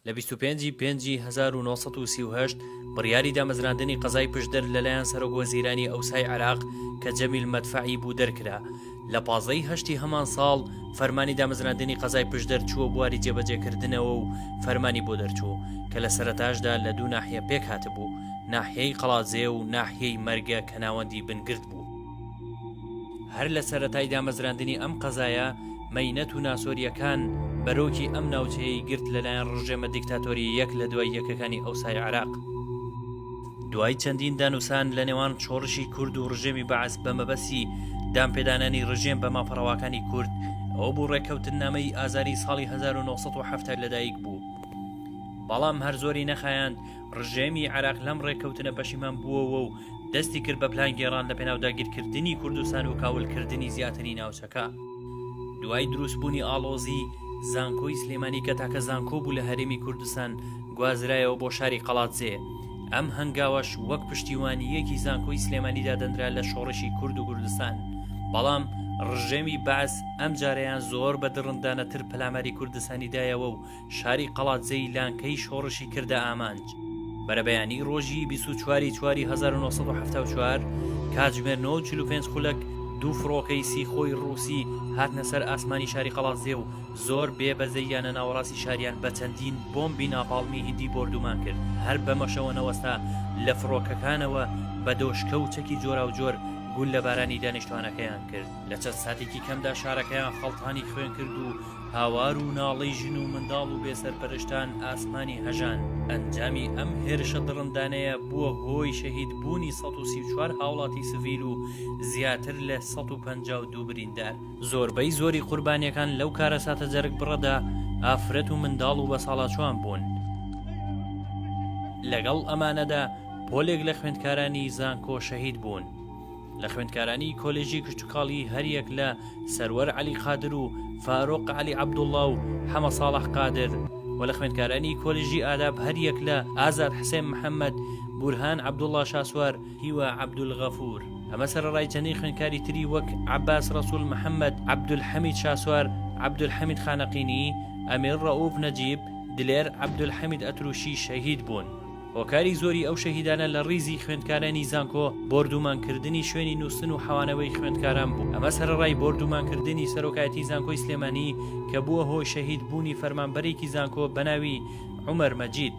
لە بیست و پێنجی پێنجی هەزار و نۆ سەد و سی و هەشت بڕیاری دامەزراندنی قەزای پشدەر لەلایەن سەرۆک وەزیرانی ئەوسای عێراق کە جەمیل مەدفەعی بوو دەرکرا لە پازدە ی هەشتی هەمان ساڵ فەرمانی دامەزراندنی قەزای پشدەر چووە بواری جێبەجێکردنەوە و فەرمانی بۆ دەرچوو کە لە سەرەتاشدا لە دوو ناحیە پێکهاتبوو، ناحیەی قەڵادزێ و ناحیەی مەرگە کە ناوەندی بنگرد بوو. هەر لە سەرەتای دامەزراندنی ئەم قەزایە مەینەت و ناسۆرییەکان بەرۆکی ئەم ناوچەیەی گرت لەلایەن ڕژێمە دیکتاتۆرییەک لە دوای یەکەکانی ئەوسای عێراق. دوای چەندین دانوسان لە نێوان شۆڕشی کورد و ڕژێمی بەعس بە مەبەسی دانپێدانانی ڕژێم بە مافەڕەواکانی کورد ئەو بوو ڕێککەوتن نامەی ئازاری ساڵی 1970 لەدایک بوو بەڵام هەر زۆری نەخایاند ڕژێمی عراق لەم ڕێککەوتنە پەشیمان بووەوە و دەستی کرد بە پلان گێڕان لە پێناو داگیرکردنی کوردستان و کاولکردنی زیاتری ناوچەکە. دوای دروست بونی ئاڵۆزی زانکۆی سلێمانی کە تاکە زانکۆ بوو لە هەرێمی کوردستان گوازرایەوە بۆ شاری قەڵادزێ ئەم هەنگاوەش وەک پشتیوانیەکی زانکۆی سلێمانی دادەنرا لە شۆڕشی کورد و کوردستان بەڵام ڕژێمی بەعس ئەم جارەیان زۆر بە دڕندانەتر پەلاماری کوردستانی دایەوە و شاری قەڵادزێی لانکەی شۆڕشی کردە ئامانج. بەرەبەیانی ڕۆژی 24 چواری 1970 کاتژمێر 95 خولەک دوو فڕۆکەی سیخۆی ڕووسی هاتنە سەر ئاسمانی شاری قەڵازێ و زۆر بێ بەزەیانە ناوەڕاستی شاریان بە چەندین بۆمبی ناپاڵمی هندی بردومان کرد هەر بەمەشەوە نەوەستا لە فڕۆکەکانەوە بە دۆشکە و چەکی جۆرا و جۆر گول لە بارانی دانیشتوانەکەیان کرد لە چەند ساتێکی کەمدا شارەکەیان خەڵتانی خوێن کرد و هاوار و ناڵەی ژن و منداڵ و بێسەرپەرشتان ئاسمانی هەژاند. ئەنجامی ئەم هێرشە دڕندانەیە بووە هۆی شەهید بوونی سەد و سی و چوار هاوڵاتی سڤیل و زیاتر لە سەد و پەنجا و دوو بریندار. زۆربەی زۆری قوربانیەکان لەو کارەساتە جەرگبڕەدا ئافرەت و منداڵ و بەساڵاچووان بوون. لەگەڵ ئەمانەدا پۆلێک لە خوێندکارانی زانکۆ شەهید بوون. لە خوێندکارانی کۆلێژی کشتوکاڵی هەریەک لە سەروەر عەلی قادر و فارۆق عەلی عەبدوڵڵا و حەمە ساڵح قادر و لە خوێندکارانی کۆلێژی ئاداب هەریەک لە ئازاد حسێن محەممەد بورهان عەبدوڵڵا شاسوار هیوا عەبدولغەفور ئەمە سەرەڕای چەندین خوێندکاری تری وەک عەباس ڕەسوول محەممەد عەبدولحەمید شاسوار عەبدولحەمید خانەقینی ئەمیر ڕەئووف نەجیب دلێر عەبدولحەمید ئەترووشی شەهید بوون. هۆکاری زۆری ئەو شەهیدانە لە ڕیزی خوێندکارانی زانکۆ بۆردومان کردنی شوێنی نووستن و حەوانەوەی خوێندکاران بوو ئەمە سەرەڕای بۆردومان کردنی سەرۆکایەتی زانکۆی سلێمانی کە بووە هۆی شەهید بوونی فەرمانبەرێکی زانکۆ بەناوی عومەر مەجید.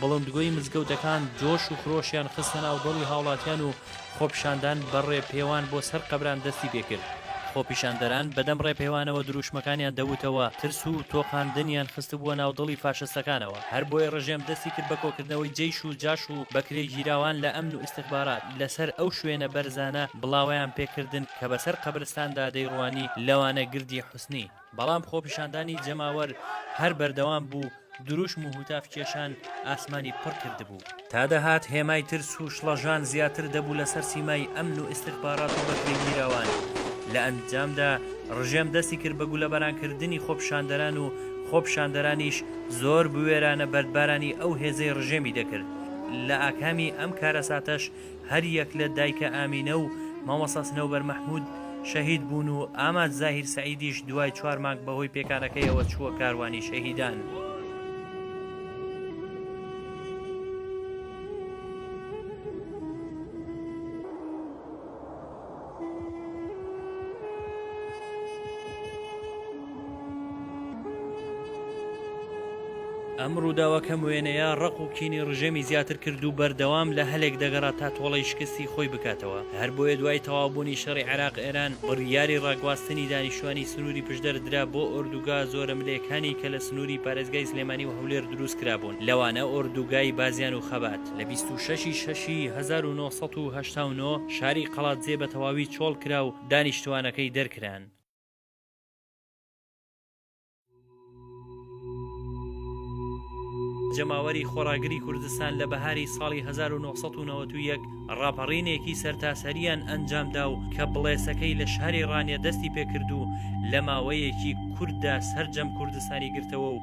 بڵندگۆی مزگەوتەکان جۆش و خرۆشیان خستە ناو دڵی هاوڵاتیان و خۆپیشاندان بە ڕێپێوان بۆ سەر قەبران دەستی پێ کرد. خۆپیشاندەران بەدەم ڕێپێوانەوە درووشمەکانیان دەوتەوە، ترس و تۆقاندنیان خستبووە ناو دڵی فاشستەکانەوە. هەر بۆیە ڕژێم دەستی کرد بە کۆکردنەوەی جەیش و جاش و بەکرێگیراوان لە ئەمن و ئیستخبارات لە سەر ئەو شوێنە بەرزانە بڵاوەیان پێ کردن کە بە سەر قەبرستاندا دەیڕوانی، لەوانە گردی حوسنی. بەڵام خۆپیشاندانی جەماوەر هەر بەردەوام بوو، دروشم و هوتاف کێشان ئاسمانی پڕ کردبوو. تا دەهات هێمای ترس و شڵەژان زیاتر دەبوو لەسەر سیمای ئەمن و ئیستخبارات و بەکرێگیراوان. لە ئەنجامدا ڕژێم دەستی کرد بە گولەباران کردنی خۆپیشاندەران و خۆپیشاندەرانیش زۆر بوێرانە بەردبارانی ئەو هێزەی ڕژێمی دەکرد. لە ئاکامی ئەم کارەساتەش هەر یەک لە دایکە ئامینە و مامۆستا سنەوبەر مەحمود شەهید بوون و ئاماد زاهیر سەعیدیش دوای چوار مانگ بەهۆی پێکانەکەیەوە چووە کاروانی شەهیدان. ئەم ڕووداوە کەم وێنەیە ڕق و کینی ڕژێمی زیاتر کرد و بەردەوام لە هەلێک دەگەڕا تا تۆڵی شکستی خۆی بکاتەوە هەر بۆیە دوای تەوابوونی شەڕی عراق ئێران بڕیاری ڕاگواستنی دانیشتوانی سنووری پشدەر درا بۆ ئۆردوگا زۆرە ملێکانی کە لە سنووری پارێزگای سلێمانی و هەولێر دروست کرابوون لەوانە ئۆردوگای بازیان و خەبات لە بیست و شەش ی شەش ی هەزار و نۆ سەد و هەشتا و نۆ شاری قەڵادزێ بە تەواوی چۆڵ کرا و دانیشتووانەکەی دەرکران. جەماوەری خۆڕاگری کوردستان لە بەهاری ساڵی هەزار و نۆ سەد و نەوەد و یەک ڕاپەڕینێکی سەرتاسەرییان ئەنجام دا و کە بڵێسەکەی لە شاری ڕانیە دەستی پێ کرد و لە ماوەیەکی کورتدا سەرجەم کوردستانی گرتەوە و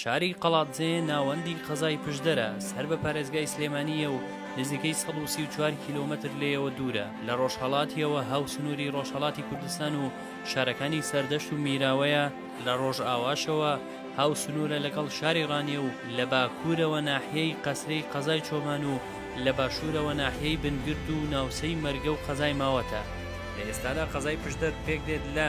شاری قەڵادزێ ناوەندی قەزای پشدەرە، سەر بە پارێزگای سلێمانییە و نزیکەی سەد و سی و چوار کیلۆمەتر لێیەوە دوورە، لە ڕۆژهەڵاتییەوە هاوسنووری ڕۆژهەڵاتی کوردستان و شارەکانی سەردەشت و میراوەیە، لە ڕۆژاواشەوە هاوسنوورە لەگەڵ شاری ڕانیە و لە باکوورەوە ناحیەی قەسرێی قەزای چۆمان و لە باشوورەوە ناحیەی بنگرد و ناوچەی مەرگە و قەزای ماوەتە. لە ئێستادا قەزای پشدەر پێکدێت لە.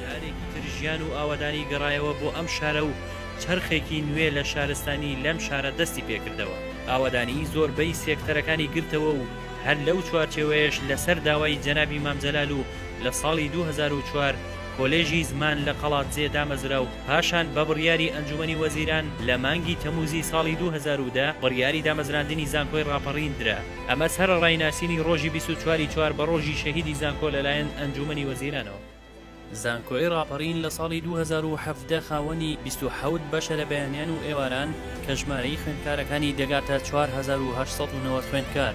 جارێکی تر ژیان و ئاوەدانی گەڕایەوە بۆ ئەم شارە و چرخێکی نوێ لە شارستانی لەم شارە دەستی پێکردەوە ئاوەدانی زۆربەی سێکتەرەکانی گرتەوە و هەر لەو چوارچێوەیەش لەسەر داوای جەنابی مامجلال و لە ساڵی 2004 کۆلێژی زمان لە قەڵادزێ دامەزرا و پاشان بە بڕیاری ئەنجوومەنی وەزیران لە مانگی تەمووزی ساڵی دوو هەزار و دە بڕیاری دامەزراندنی زانکۆی ڕاپەڕین درا، ئەمە سەرەڕای ناسینی ڕۆژی بیست و چوار ی چوار بە ڕۆژی شەهیدی زانکۆ لەلایەن ئەنجوومەنی وەزیرانەوە. زانکۆی ڕاپەڕین لە ساڵی دوو هەزار و حەڤدە خاوەنی بیست و حەوت بەشە لە بەیانیان و ئێواران کە ژمارەی خوێندکارەکانی دەگاتە چوار هەزار و هەشت سەد و نەوەد خوێندکار.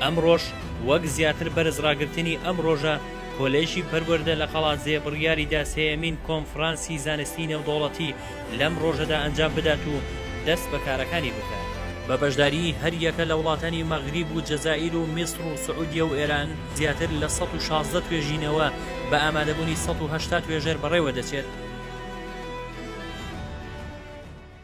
ئەمڕۆش وەک زیاتر بەرز ڕاگرتنی ئەم ڕۆژە، کۆلێژی پەروەردە لە قەڵادزێ بڕیاری دا سێیەمین کۆنفرانسی زانستی نێودەوڵەتی لەم ڕۆژەدا ئەنجام بدات و دەست بە کارەکانی بکات. بە بەشداریی هەر یەکە لە وڵاتانی مەغریب و جەزائیر و میسڕ و سعودیە و ئێران، زیاتر لە سەد و شازدە توێژینەوە بە ئامادەبوونی سەد و هەشتا توێژەر بەڕێوە دەچێت.